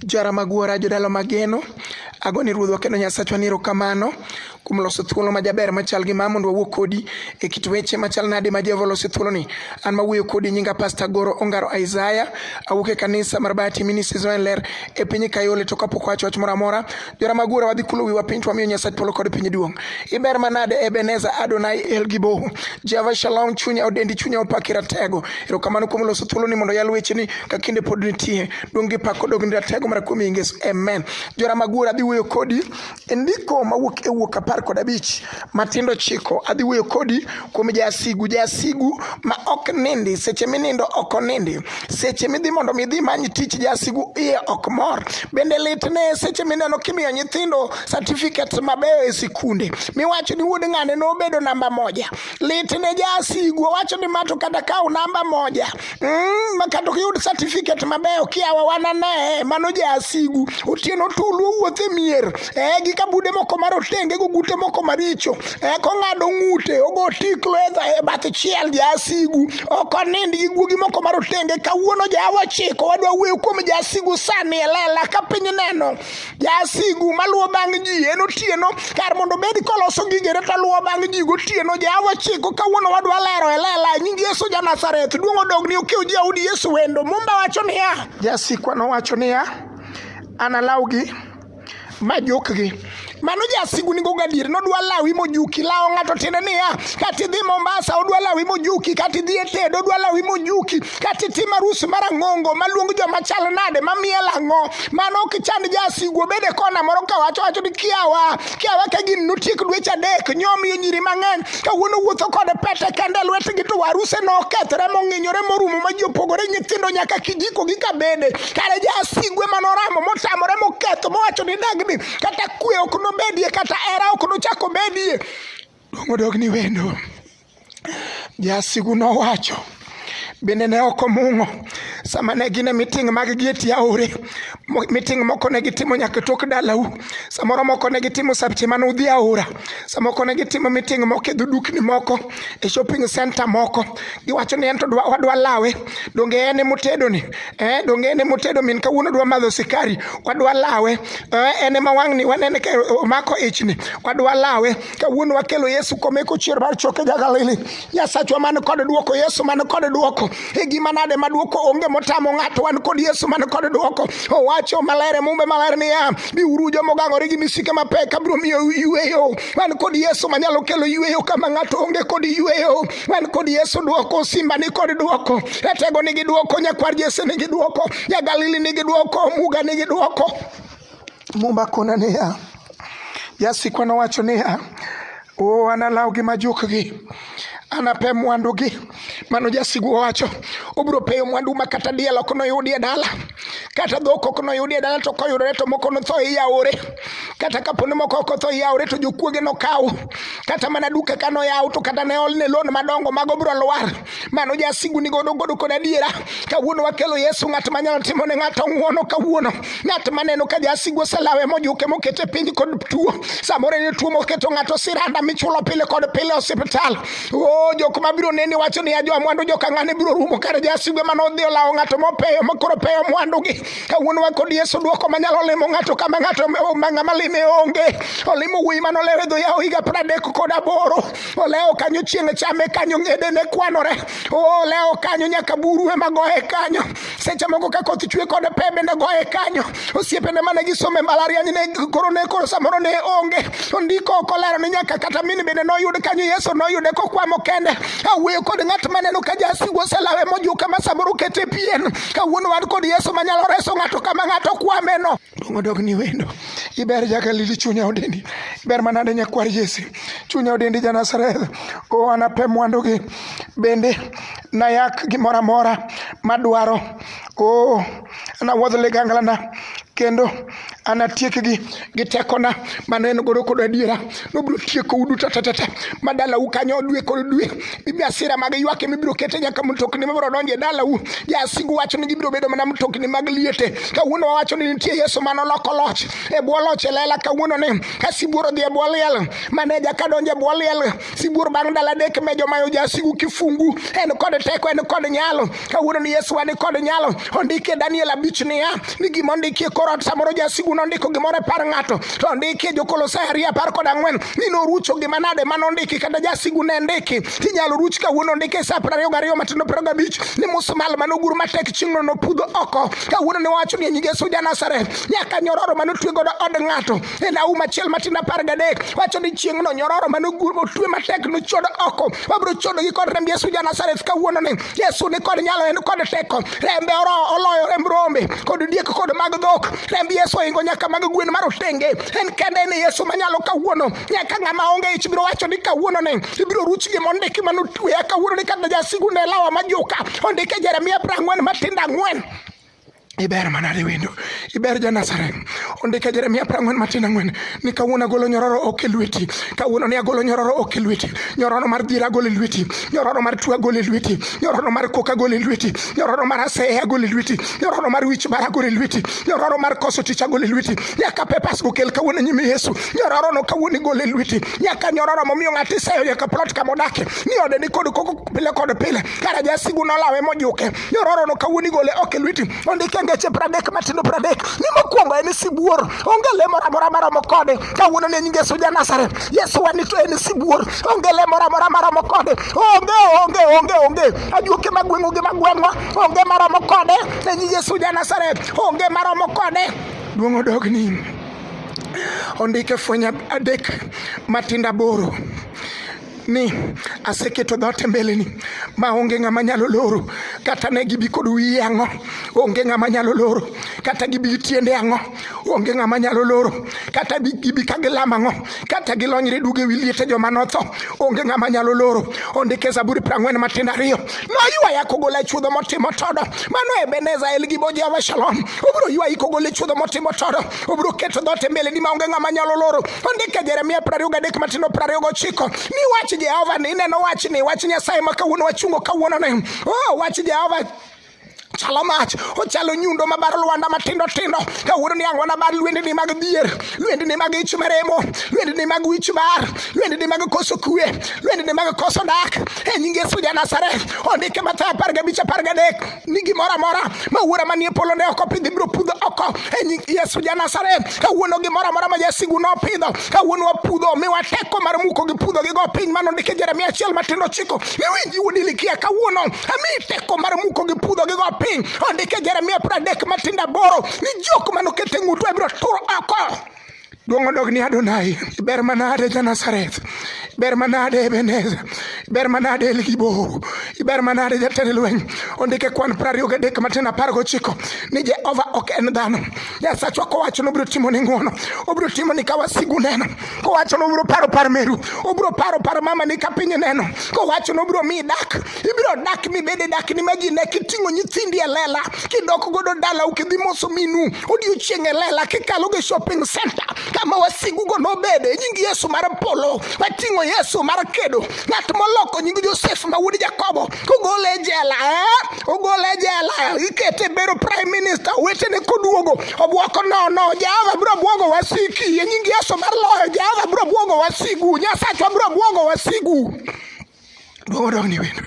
Jara Magwara, jodalo mageno, ago ni ruodhwa kendo Nyasachwa ni erokamano kuom loso thuolo ma jaber machal gi ma mondo wawuo kodi e kit weche machal nade ma Jehova oloso thuoloni. An ma wuoyo kodi nyinga Pasta Goro Ongaro Isaiah, awuok e kanisa mar Bahati Ministries ma Ler e piny Kayole to kapok wacho wach moro amora, jora magura wadhi kulo wiwa piny to wamiyo Nyasach polo kod piny duong'. Iber manade Ebenezer Adonai El Giboho. Jehova Shalom chunya odendi chunya opaki ratego. Erokamano kuom loso thuoloni mondo yal wecheni ka kinde pod nitie. Dong gi pak kodog ni ratego mar kuom Yesu. Amen. Jora Magura adhi wuoyo kodi e ndiko mawuok e wuok apar kod abich matindo chiko adhi wuoyo kodi kuom jasigu jasigu ma ok nindi seche minindo ok onindi seche midhi mondo midhi many tich jasigu iye ok mor bende litne seche mineno kimiyo nyithindo certificates mabeyo e sikunde miwacho ni wuod ng'ane nobedo namba moja litne jasigu owacho ni mato kata kaw namba moja mm, makato ok yud certificate mabeyo kiawa wanane mano jasigu otieno tulu owuothe mier eh, gi kabude moko marotenge go gute moko maricho eh, kong'ado ng'ute ogo tiklo e bath chiel jasigu ok onind gi guogi moko marotenge kawuono jawa chiko wadwa wuoyo kuom jasigu sani elela ka piny neno Jasigu maluwo bang' ji en otieno, kar mondo obed koloso gigene to luwo bang' ji gotieno. Jehova chiko kawuono wadwa lero e lela nying Yesu ja Nazareth. Duong' odogni okiw Jaudi Yesu wendo. Mumba wacho niya. Jasikwa nowacho niya, analawgi ma jukgi mano jasigu nigo gadier nodwa lawi mojuki lawo ng'ato tiende niya kata idhi mombasa odwa lawi mojuki kata idhi e tedo odwa lawi mojuki kata itim arus mar ang'ongo maluong joma chal nade mamiel ang'o mano ok chand jasigu obede kona moro kawacho wacho ni kiawa kiawa ka gin notiek dweche adek nyomiyo nyiri mang'eny kawuono wuotho kod pete kende lwetgi to waruse nokethre mong'inyore morumo ma ji opogore nyithindo nyaka kijiko gi kabede kare jasigu ema noramo motamore moketho mowacho ni dagni kata kwe ok nobedie kata era ok nochak obedie dong odog ni wendo Jasigu nowacho bende ne ok omung'o sama ne gin e miting mag gi e tie aore miting moko ne gitimo nyaka tok dalau samoro moko ne gitimo sabche mane udhi aora samoko ne gitimo miting moko e dhudukni moko e shopping center moko giwacho ni en to wadwa lawe donge en emotedo ni eh, donge en emotedo min kawuono dwa madho sikari wadwa lawe eh, en ema wang'ni wanene ka omako ichni wadwa lawe kawuono wakelo yesu komeko chier mar choke ja galili nyasachwa man kod dwoko yesu man kod dwoko e gima nade ma dwoko onge motamo ng'ato wan kod yesu man kod dwoko owacho maler e mumbe maler niya biuru joma ogang'ore gi misike mapek abiro miyo yueyo wan kod yesu manyalo kelo yueyo kama ng'ato onge kod yueyo wan kod yesu dwoko simba ni kod dwoko ratego nigi dwoko nyakwar jese nigi dwoko ja galili nigi dwoko muga nigi dwoko Muma kona niya, jasikwa nowacho niya, o analaw gi majukgi anape mwandugi. Mano jasigu owacho, obiro peyo mwandu ma kata diel ok noyudi e dala, kata dhok ok noyudi e dala, to koyudore to moko notho e yaore. Kata kapo ni moko ok otho e yaore, to jokuoge nokaw. Kata mana duka ka noyaw, to kata ne olne loan madongo, mago biro lwar. mano jasigu ni godo godo kod adiera kawuono wakelo yesu ng'at manyalo timo ne ng'ato ng'uono kawuono ng'at maneno ka jasigu oselawe mojuke mokete piny kod tuo samoro en tuo moketo ng'ato siranda michulo pile kod pile osiptal o jok mabiro neni wacho ni ajo mwandu joka ng'ane biro rumo kare jasigu ema nodhi olawo ng'ato mopeyo makoro peyo mwandugi kawuono wa kod yesu dwoko manyalo limo ng'ato kama ng'ato ma ng'ama lime onge olimo wuoyi manolewe dho yawo higa pradek kod aboro olewo kanyo chieng' chame kanyo ng'ede ne kwanore oh, olewo kanyo nyaka buru ema goye kanyo seche moko ka koth chwe kod pe bende goye kanyo osiepene mane gisome mbalariany ne koro ne koro samoro ne onge ondiko ok olero ni nyaka kata mini bende noyud kanyo yesu noyude kokwamo kende awuoyo kod ng'at maneno ka jasigu oselawe mojuka ma samoro kete pien kawuono wan kod yesu manyalo reso ng'ato kama ng'ato kwameno Dong odog ni wendo. Iber jagalili chunya odendi. Iber manade nyakwar Jesse. Chunya odendi ja Nazareth. O anape mwandugi. Bende nayak gimoro amora madwaro. O anawuodh liganglana kendo anatiekgi gi tekona mane en godo kod adiera nobiro tieko udu tatatata ma dalau kanyo dwe kod dwe bibi asira mag ywak ema ibiro kete nyaka mtokni mabiro donjo e dalau jasigu wacho ni gibiro bedo mana mtokni mag liete kawuono wawacho ni nitie yesu mane oloko loch e bwo loch e lela kawuono ni ka sibuor odhi e bwo liel maneja ka donjo e bwo liel sibuor bang' dala dek me jomayo jasigu kifungu en kod teko en kod nyalo kawuono ni Yesu wa ni kod nyalo ondikie Daniel abich niya ni gima ondikie korot samoro jasigu nondiko gimoro e par ng'ato to ondikie jokolosai ariyo apar kod ang'wen ni norucho gima nade ma nondiki kata jasigu ne ndiki inyalo ruch kawuono ondike e sa piero ariyo gariyo matindo piero gabich ni musmal mane ogur matek chieng'no nopudho oko kawuono ne wacho ni e nying Yesu Janazareth nyaka nyororo mane otwe godo od ng'ato e lawu machiel matindo apar gadek wacho ni chieng'no nyororo mane otwe matek nochodo oko wabiro chodogi kod remb Yesu Janazareth kawuononi Yesu ni kod nyalo, en kod teko. Rembe oro oloyo remb rombe kod diek kod mag dhok. Remb Yesu oingo nyaka mag gwen mar otenge. En kende ni Yesu manyalo kawuono. Nyaka ng'ama onge ich biro wacho ni kawuono ni ibiro ruch gima ondiki mano tweya kawuono ni kata jasigu ne lawa majuka. Ondike Jeremia prang'wen matinda ang'wen. iber mana riwendo iber janasaren ondike jeremia prang'wen matin ang'wen ni kawuono agolo nyororo ok e lweti kawuono ni agolo nyororo ok e lweti nyororo mar dhira agolo e lweti nyororo mar tuo agolo e lweti nyororo mar kok agolo e lweti nyororo mar aseye agolo e lweti nyororo mar wich bar agolo e lweti nyororo mar koso tich agolo e lweti nyaka pepas gokel kawuono nyime yesu nyororo no kawuono igolo e lweti nyaka nyororo momiyo ng'ato iseyo nyaka plot kama odake ni ode ni kod koko pile kod pile kara jasigu nolawe mojuke Yororono kawuono igole ok e lweti. Ondike e ngeche pradek matindo pradek. Ni mokwongo en sibuor. Onge le moro amora maromo kode. Kawuono ne nyinge Yesu ja Nazareth. Yesu wani to en sibuor. Onge le moro amora maromo kode. Onge onge onge onge. Ajuoke magweng'o gi magweng'o. Onge maromo kode. Ne nyinge Yesu ja Nazareth. Onge maromo kode. Duong' odogni. Ondike fweny adek matindo aboro. ni aseketo dhote mbeleni ma onge ng'ama nyalo loro kata ne gibi kod wiye ang'o onge ng'ama nyalo loro kata gibi gi tiende ang'o onge ng'ama nyalo loro kata gibi ka gilamo ang'o kata gilonyre duge wi liete joma notho onge ng'ama nyalo loro ondike zaburi piero ang'wen matindo ariyo noywaya kogola chuodho motimo todo mano ebeneza el gibo jehova shalom obiro ywayi kogola chuodho motimo todo obiro keto dhoot e mbeleni maonge ng'ama nyalo loro ondike jeremia prariyo gadek matindo prariyo gochiko ni wach jehova ni ineno wach ni wach nyasaye ma kawuono wachungo kawuono ni o oh, wach jehova chalo mach ochalo nyundo mabar lwanda matindo tindo kawuono ni ang'wana bar lwendni mag dhier lwendni mag ich maremo lwendni mag wich bar lwendni mag koso kwe lwendni mag koso dak e nying yesu ja nazareth ondike mathayo apar gabich apar gadek ni gimoro amora ma wuora manie polo ne ok opidhi biro pudho oko e nying Yesu ja Nazareth. Kawuono gimoro amora ma jasigu nopidho, kawuono wapudho, miwa teko mar muko gi pudho gi go piny mano ndike Jeremia achiel matindo chiko. Miwinji wuod Ilikia kawuono, ami teko mar muko gi pudho gi go piny. Ondike Jeremia pradek matindo aboro ni jok manokete ng'utu abiro turo oko. Duong' odog ni Adonai, ber manade ja Nazareth, ber manade Ebeneza, ber manade Elgibo, ber manade jatend lweny. Ondike kwan piero ariyo gadek matin apar gochiko ni Jehova ok en dhano. Nyasachwa kowacho ni obiro timo ni ng'wono, obiro timo ni ka wasigu neno, kowacho ni obiro paro par meru, obiro paro par mama ni ka piny neno, kowacho ni obiro miyi dak, ibiro dak mibede dak ni majine kiting'o nyithindi e lela kidok godo dala ukidhi moso minu odiochieng' e lela kikalo gi shopping center kama wasigugo nobede nying yesu mar polo wating'o yesu mar kedo ng'at moloko nying josef ma wuod jakobo kogole e jela eh? ogole e jela ikete bedo prime minister wetene koduogo obwoko nono jehova biro bwogo wasiki e nying yesu mar loyo jehova biro bwogo wasigu nyasachwa biro bwogo wasigu Duogo dog ni wendo.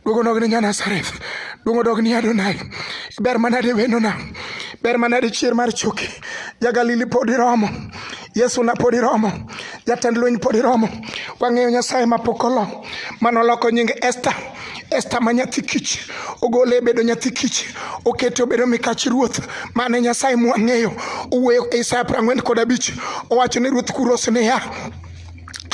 Duogo dog ni Nyanasareth. Duogo dog ni Adonai. Ber manade wendona. Ber manade chier mar choki. Ja Galili pod iromo. Yesu na pod iromo. Jatend lweny pod iromo. Wang'eyo Nyasaye ma pok olo. Mano loko nying Esther. Esther ma nyathi kich ogole e bedo nyathi kich okete obedo mikach ruoth mane nyasaye mwang'eyo owuoyo e isaya prang'wen kod abich owacho ni ruoth kuros niya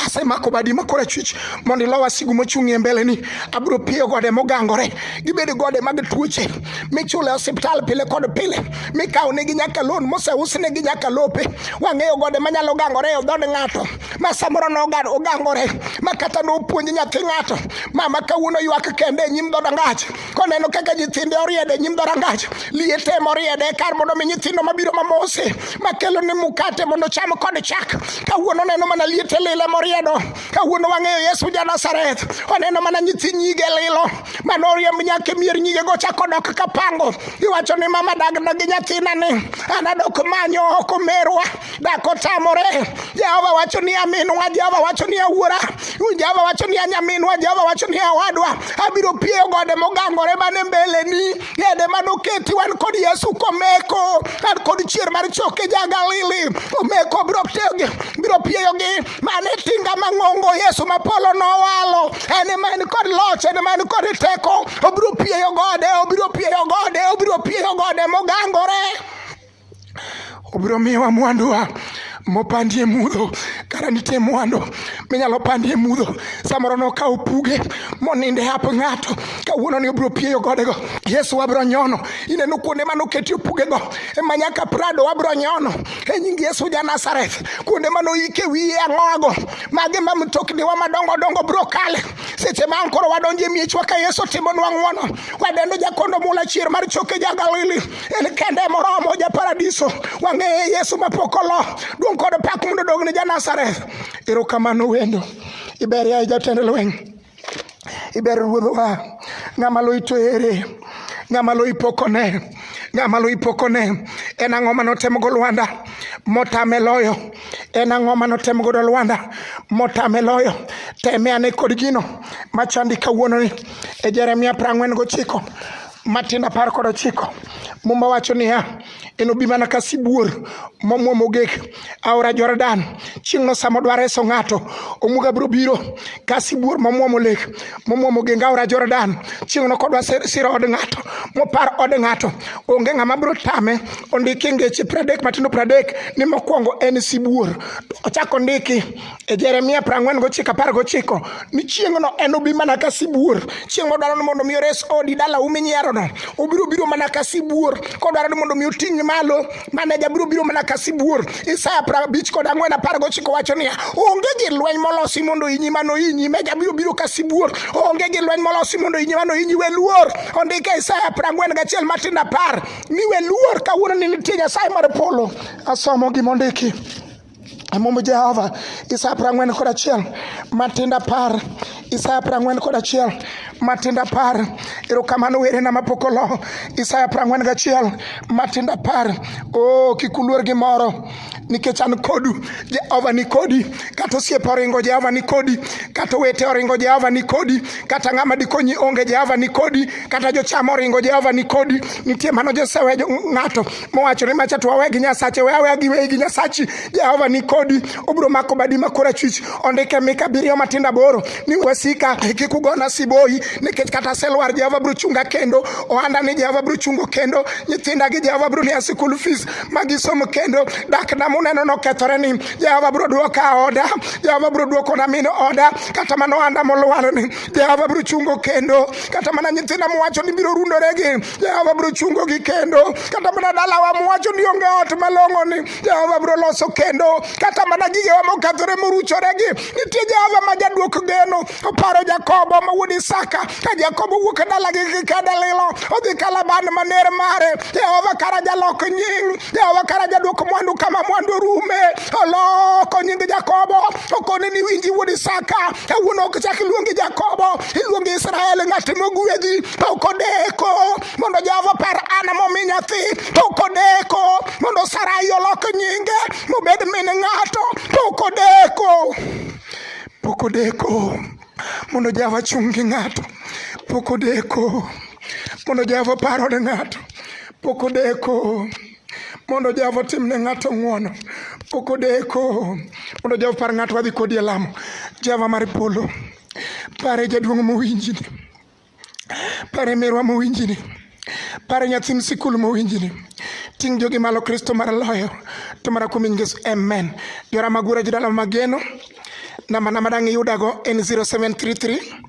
asemako badi makora chwich mondo ilo wasigu mochung'ie mbeleni abiro piyo gode mogangore gibed gode mag tuoche michule osiptal pile kod pile mikawo negi nyaka lon moseus negi nyaka lope wang'eyo gode manyalo gangore e odhod ng'ato ma samoro nogangore ma kata nopuonj nyathi ng'ato mama kawuono ywak kende e nyim dhoda ng'ato koneno kaka nyithinde oriedo e nyim dhorangach liete ema oriedo e kar mondo mi nyithindo mabiro mamose makelo ni mukate mondo cham kod chak kawuono oneno mana liete lilo ema oriedo kawuono wang'eyo yesu ja nazareth oneno mana nyithi nyige lilo mano oriemb nyaka e mier nyige go chako dok kapango iwacho ni mama dag dogi nyathina ni anadok manyo oko merwa dak otamore jehova wacho ni aminwa jehova wacho ni awuora jehova wacho ni anyaminwa jehova wacho ni awadwa abiro pieyo gode mogangore man e mbeleni yede mane oketi wan kod yesu komeko an kod chier mar choke jagalili omeko biro biro pieyogi mane tinga mang'ongo yesu ma polo nowalo en ema en kod loch en ema en kod teko obiro pieyo gode obiro pieyo gode obiro pieyo gode mogangore obiro miwa mwanduwa mopandie mudho kara nitie mwandu minyalo pandie mudho samoro nokawo puge moninde hap ng'ato kawuono ni obiro pieyo godego yesu wabiro nyono ineno kuonde mane oketie pugego ema nyaka prado wabiro nyono e nying yesu ja nazareth kuonde mane oike wiye ang'oago mage ma mtokniwa madongo dongo biro kale seche ma an koro wadonjo e miechwa ka yesu timonwa ng'wono wadendo jakondo mula chier mar choke ja galili en kende moromo ja paradiso wang'eye yesu mapok olo duong' kod pak mondo odog ne ja nazareth erokamano wendo iber yaye jatend lweny iber ruodhowa ng'ama lo ito ere ng'ama lo ipokone ng'ama lo ipokone en ang'o ma notemogo lwanda motame loyo en ang'o ma notem godo lwanda motame loyo teme ane kod gino machandi kawuononi e jeremia prang'wen gochiko Matin apar kod ochiko Muma wacho niya, enobi mana ka sibuor momwomo gik aora Jordan. Chieng'no sama odwa reso ng'ato, omuga biro biro ka sibuor momwomo lek momwomo geng aora Jordan. Chieng'no kodwa siro od ng'ato mopar od ng'ato, onge ng'ama biro tame. Ondiki ngeche pradek matindo pradek ni mokwongo en sibuor. Ochako ondiki e Jeremia prang'wen gochiko apar gochiko ni chieng'no en obi mana ka sibuor chieng' modwaro ni mondo mi ores odi dala umi nyierono obiro biro mana ka sibuor kodwaro ni mondo mi oting'e malo maneja biro biro mana ka sibuor Isaya prabich kod ang'wen apar gochiko wacho niya onge gi lweny molosi mondo inyi mano inyi meja biro biro ka sibuor onge gi lweny molosi mondo inyi mano inyi we luor ondike Isaya prang'wen gachiel matin apar ni we luor kawuono ni nitie Nyasaye mar polo asomo gimondiki Mumb Jehova, Isaya prang'wen kod achiel, matinda par, Isaya prang'wen kod achiel, matinda par, erokamano werena mapok olo, Isaya prang'wen gachiel, matinda par, o oh, kik uluor gi moro, nikech an kodu, Jehova ni kodi, kata osiepe oringo Jehova ni kodi, kata owete oringo Jehova ni kodi, kata ng'ama dikonyi onge Jehova ni kodi, kata jocham oringo Jehova ni kodi, nitie mano josewe ng'ato mowacho ni macha to wawe gi nyasache we aweya gi wegi nyasachi jehova ni kodi obiro mako badi ma korachwich ondike mika abiriyo matindo aboro ni wasika kik ugona siboyi nikech kata aselwar jehova biro chunga kendo ohanda ni jehova biro chungo kendo nyithinda gi jehova biro miya sikul fees ma gisomo kendo dakna muneno nokethore ni jehova biro dwoka oda jehova biro dwokona min oda kata mana ohanda molwar ni jehova biro chungo kendo kata mana nyithinda mowacho ni biro rundore gi Jehova biro chungo gi kendo kata mana dalawa mowacho ni onge ot malong'o ni Jehova biro loso kendo kata mana gigewa mokethore moruchore gi nitie Jehova ma jaduok geno oparo Jakobo ma wuod Isaka ka Jakobo wuok e dalagi gi kedalilo odhi kalaban maner mare Jehova kara jalok nying Jehova kara jaduok mwandu kama mwandu rume oloko nying Jakobo okone ni winji wuod Isaka kawuono ok chak iluongi Jakobo iluongi Israel ng'at mogwedhi to ok odeko mondo Jehova par an momi nyathi to ok odeko mondo Sarai olok nyinge mobed min ng'ato to ok odeko pok odeko mondo Jehova chung' gi ng'ato pok odeko mondo Jehova paro ne ng'ato pok odeko mondo Jehova otim ne ng'ato ng'wono pok odeko mondo Jehova par ng'ato wadhi kodi e lamo Jehova mar polo pare jaduong' mowinjini pare merwa mowinjini pare nyathi msikul mowinjini ting' jogi malo kristo mar loyo to mana kuom ingesu amen jora magura jidala mageno namba namba dang' iyudago en 0733